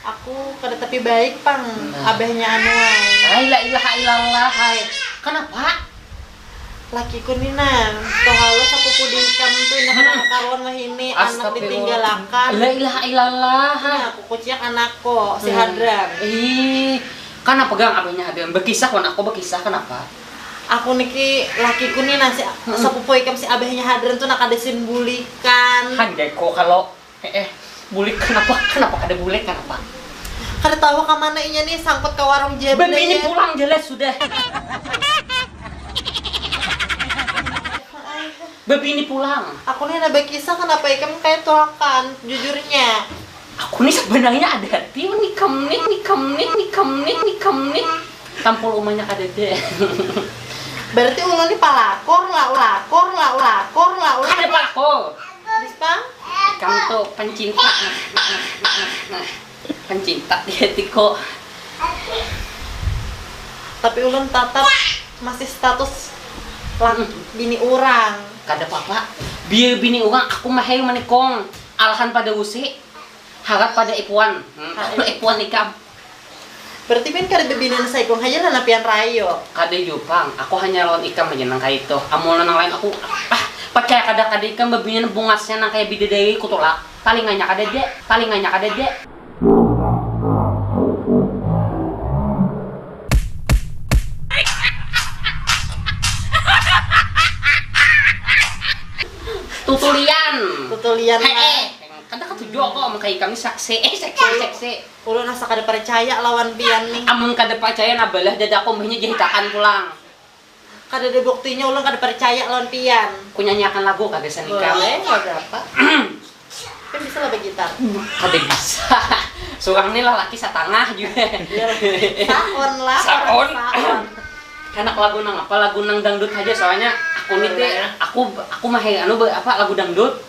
Aku kada tapi baik pang abahnya anu ai. Hai la ilaha ilallah hai. Kanapa? Lakiku ni nah, tohalo sapupu diikam tu inda kada kakaruan wahini anak ditinggalakan. La ilaha ilallah hai. Nah, kukuciak anakku si Hadran. Ih, kanapa gang abahnya Hadran? Bakisah wan aku bakisah kanapa? Aku niki lakiku ni nah si sapupu ikam si abahnya Hadran tu nah kada sin bulikan. Handaiku kalo Eh eh, bulik kanapa? Kanapa kada bulik kanapa? Kada tahu ha kamana inya nih, sangkut ka warung ja benda inya. Bini pulang ja lah sudah. Babini pulang. Aku nih handak bakisah kanapa ikam kaya tulakan, jujurnya. Aku nih sabanarnya ada hati wan ikam nih, ikam nih, ikam nih, ikam nih. Tampul umanya kadada. Berarti ulun nih palakor lah, lakor lah, lakor lah, ulun. Kada palakor. Ikam tu pencinta pencinta dia tiko tapi ulun tatap masih status laki bini urang kada papa biar bini urang aku mahir manikung alahan pada usi. Harat pada ipuan, kalo ipuan ikam. Berarti pian kada bebinian saikung haja lah nang pian rayu. Kada jua pang, aku hanya lawan ikam haja nang kaya itu, amun lawan nang lain aku ah parcaya kada kada ikam bebinian bungasnya nang kaya bidadari ku tulak, talinganya kadada, talinganya kadada. Tutulian. Tutulian lah. Heeh. Kada katuju aku amun kaya ikam ni seksi eh seksi seksi. Ulun asa kada parcaya lawan pian ni. Amun kada parcaya nah balah dadaku mbahnya jahit akan pulang. Kadada buktinya ulun kada parcaya lawan pian. Ku nyanyi akan lagu kah gasan ikam. Boleh lagu apa? Pian bisa lah bagitar. Kada bisa surang ni lalaki satangah jua. Saon lah orang saon. Handak lagu nang apa lagu nang dangdut haja soalnya aku ni te aku aku mahir anu apa lagu dangdut.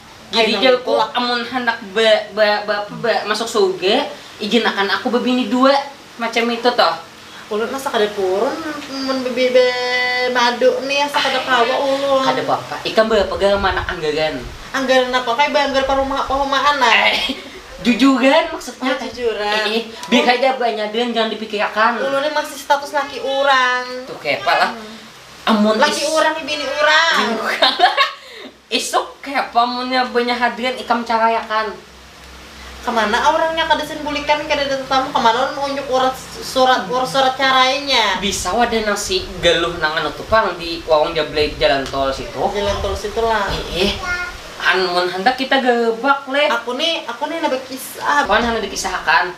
Jadi jaku amun handak ba ba ba apa ba masuk surga, ijin akan aku babini dua, macam itu tuh. Ulun mah sakada purun mun ba ba madu nih asa kada kawa ulun. Kada papa, ikam barapa ga manakan anggaran? Anggaran apa kaya baanggar parumah pahumaan nah. Jujuran maksudnya. Oh jujuran. Ih ih, biar haja banyak dan jangan dipikir akan. Ulun nih masih status laki urang. Tuh kepa lah. Amun is. Laki urang ni bini urang. Bini urang. Isuk kayapa munnya banyak hadrian ikam caraiakan. Kamana aurangnya kada sin bulikan kadada tatamu kamana ulun maunjuk urat surat ur surat carainya. Bisa wadah nang si galuh nang anu tu pang di warung jablay jalan tol situ. Jalan tol situ lah. Iih an mun handak kita garebak leh. Aku nih aku nih handak bakisah. Wan handak dikisah akan.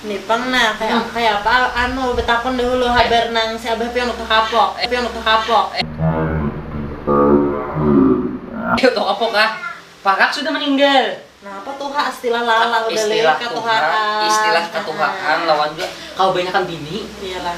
Ni pang nah, kaya apa anu betakun dahulu habar nang si abah pian utuh kapok, pian utuh kapok. Ai utuh kapok kah, parak sudah meninggal. Nah apa tuha istilah lala udah lih katuhaan. Istilah katuhaan lawan jua kawa banyakan bini. Iyalah.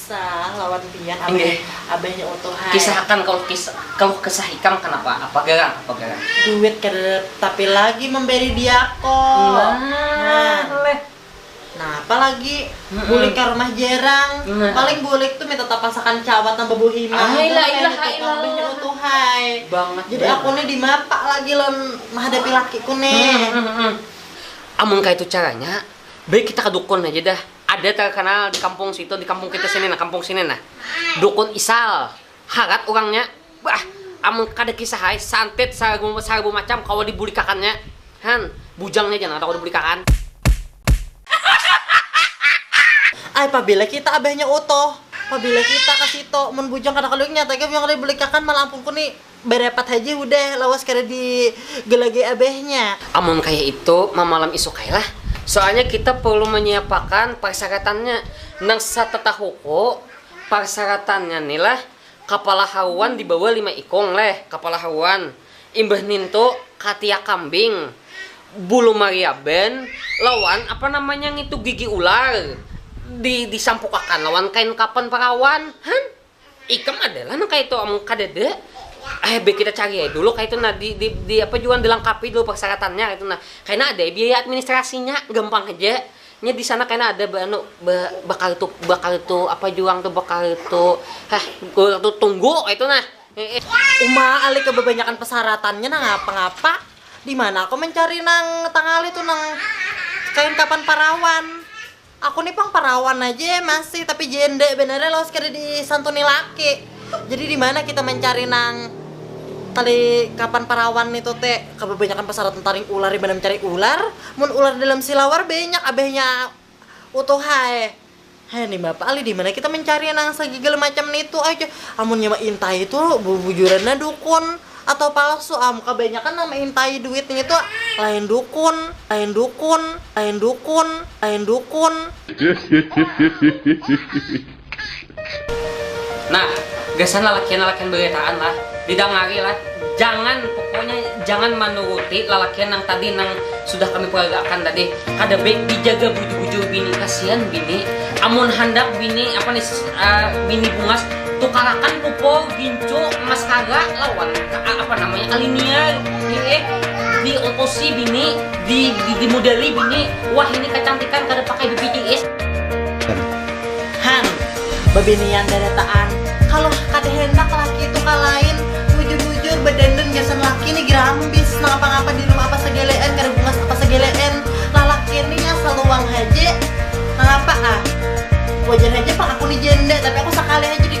Sah lawan pian abah abahnya utuh hai. Kisahakan kaluh kaluh kesah ikam kanapa apa garang apa garang. Duit kada ada tapi lagi memberi diako. Nah leh. Napa lagi bulik ka rumah jerang paling bulik tu minta tapasakan cawat nang babuhi mah ai lah ai lah ai lah abahnya utuh hai. Banget jadi aku nih dimapa lagi lawan mahadapi lakiku nih. Amun kaitu caranya baik kita ka dukun haja dah. Ada terkenal di kampung situ, di kampung kita sini nah, kampung sini nah. Dukun Isal. Harat urangnya. Bah, amun kada kisah ai, santet sarbu sarbu macam kawa dibulikakannya. Han, bujangnya ja nang kawa dibulikakan. Ai pabila kita abahnya Utoh, pabila kita ka situ, mun bujang kada kaluinya, tagal bujang kada dibulikakan, malah ampungku ni. Barapat haja hudah, lawas kada di gelagai abahnya. Amun kaya itu, mamalam isuk ai lah. Soalnya kita perlu manyiapakan parsaratannya. Nang satatahuku, parsaratannya ni lah, kapala haruan dibawa lima ikung leh, kapala haruan. Imbah nintu, katiak kambing, bulu mariaban, lawan apa namanya ngitu gigi ular, di disampukakan lawan kain kapan parawan. Han. Ikam ada lah nang kaya itu, amun kadada, eh baik kita cari ai dulu kaya itu nah, di di di apa jua dilangkapi dulu persaratannya kaya itu nah, kena ada ai biaya administrasinya, gampang haja, nya di sana kena ada ba anu ba bakartu bakartu apa jua nang tu bakartu hah kartu tunggu kaya itu nah. Uma ali kebabanyakan persaratannya nangapa ngapa, dimana aku mencari nang tangali tu nang kain kapan parawan. Aku nih pang parawan aje masih tapi jende banar ya lawas kada disantuni laki. Jadi dimana kita mancari nang tali kapan parawan nitu te kababanyakan pasaratan taring ular dimana mancari ular mun ular dalam silawar banyak abahnya utuh ai he nimapa alih dimana kita mancari nang sagigal macam nitu aja amunnya maintai tu bubujuran nah dukun. atau palsu am kebanyakan nang meintai duit ngitu lain dukun lain dukun lain dukun lain dukun. Nah, gasan lalakian-lalakian beritaan lah, didangari lah, jangan pokoknya jangan manuruti lalakian nang tadi nang sudah kami peragakan tadi, kada baik dijaga bujur-bujur bini, kasian bini, amun handak bini apa nih bini bungas tukarakan pupur. Kincu mas kaga lawan apa namanya Alinia di eh di otosi bini di di, di modeli bini wah ini kecantikan kada pakai BPJS hang babinian daretaan kalo kada hendak laki itu kalain bujur bujur bedandan gasan laki ni gerambis nang apa ngapa di rumah apa segelean kada bungas apa segelean lalaki ni asal luang haja nang apa ah wajar haja pang aku ni janda tapi aku sakali haja di.